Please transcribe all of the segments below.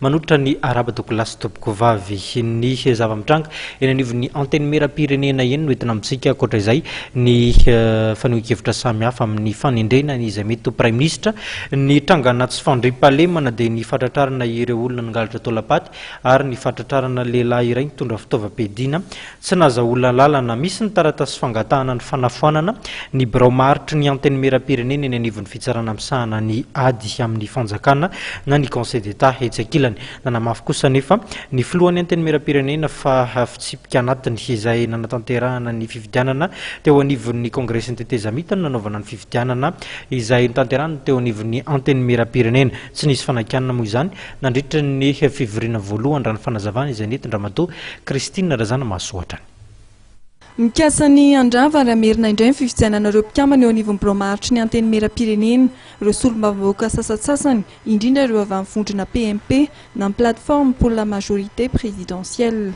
Manolotra ny araba Douglas Tompokovavy. Ny zava-mitranga eny anivon'ny Antenimierampirenena eny no entina amintsika. Ankoatra izay, ny fanehoan-kevitra samihafa amin'ny fanendrena ny izay mety ho Praiminisitra. Ny trangana tsy fandriampahalemana dia ny fahatratrarana ireo olona nangalatra taolam-paty ary ny fahatratrarana lehilahy iray nitondra fitaovam-piadiana Tsy nazahoana lalana misy ny taratasy fangatahana ny fanafoanana ny birao maharitry ny Antenimierampirenena eny anivon'ny Fitsarana misahana ny ady amin'ny fanjakana na ny Conseil d'Etat etsy ankilany. Nanamafy kosa anefa ny filohan'ny Antenimierampirenena fa fitsipika anatiny izay nanatanterahana ny fifidianana teo anivon'ny Kongresin'ny Tetezamita no nanaovana ny fifidianana izay notanterahana teo anivon'ny Antenimierampirenena. Tsy nisy fanakianana moa izany Nandritra ny fivoriana voalohany raha ny fanazavana izay nentin-dRamatoa Christine Razanamahasoatra ny. Mikasa ny handrava ary hamerina indray ny fifidianana ireo mpikambana eo anivon'ny Birao maharitry ny Antenimierampirenena ireo solombavambahoaka sasantsasany, indrindra ireo avy amin'ny vondrona PMP na ny Plateforme pour la majorité présidentielle.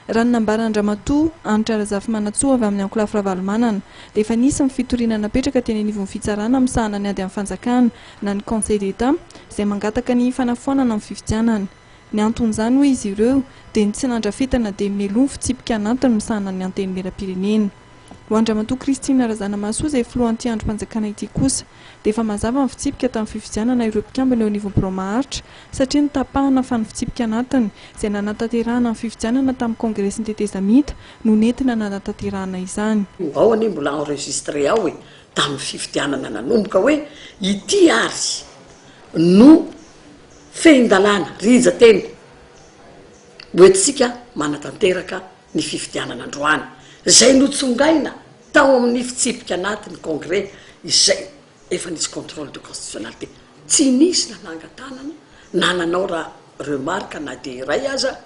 Raha ny nambaran-dRamatoa Hanitra Razafimanantsoa avy amin'ny Ankolafy Ravalomanana dia efa nisy ny fitoriana napetraka teny anivon'ny fitsarana misahana ny ady amin'ny fanjakana na ny Conseil d'Etat izay mangataka ny fanafoanana ny fifidianana. Ny anton'izany hoy izy ireo dia ny tsy nandrafetana dia meloa ny fitsipika anatiny misahana ny Antenimierampirenena. Ho an-dRamatoa Christine Razanamahasoa izay filohan'ity andrim-panjakana ity kosa, dia efa mazava ny fitsipika tamin'ny fifidianana ireo mpikambana eo anivon'ny Birao maharitra satria notapahana fa ny fitsipika anatiny izay nanatanterahana ny fifidianana tamin'ny kongresin'ny tetezamita no nentina nanatanterahana izany. Ao anie mbola enregistré ao e, tamin'ny fifidianana nanomboka hoe ity ary no fehin-dalàna, rija teny, hoentintsika manatanteraka ny fifidianana androany, izay notsongaina tao amin'ny fitsipika anatin'ny Congrès izay efa nisy contrôle de constitutionnalité. Tsy nisy na nangan-tanana na nanao ra remarque na dia iray aza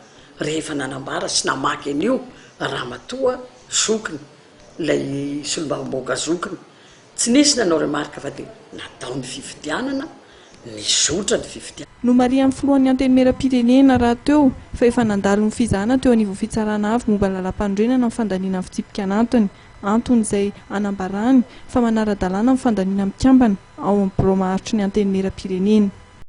rehefa nanambara sy namaky an'io Ramatoa zokiny, ilay solombavambahoaka zokiny, Tsy nisy nanao remarque fa dia natao ny fifidianana, nizotra ny fifidianana. Nomarihan'ny filohan'ny Antenimierampirenena rahateo fa efa nandalo ny fizahana teo anivon'ny Fitsarana Avo momba ny Lalàmpanorenana ny fandaniana ny fitsipika anatiny, antony izay anambarany fa manara-dalàna ny fandaniana mikambana ao amin'ny Birao maharitry ny Antenimierampirenena.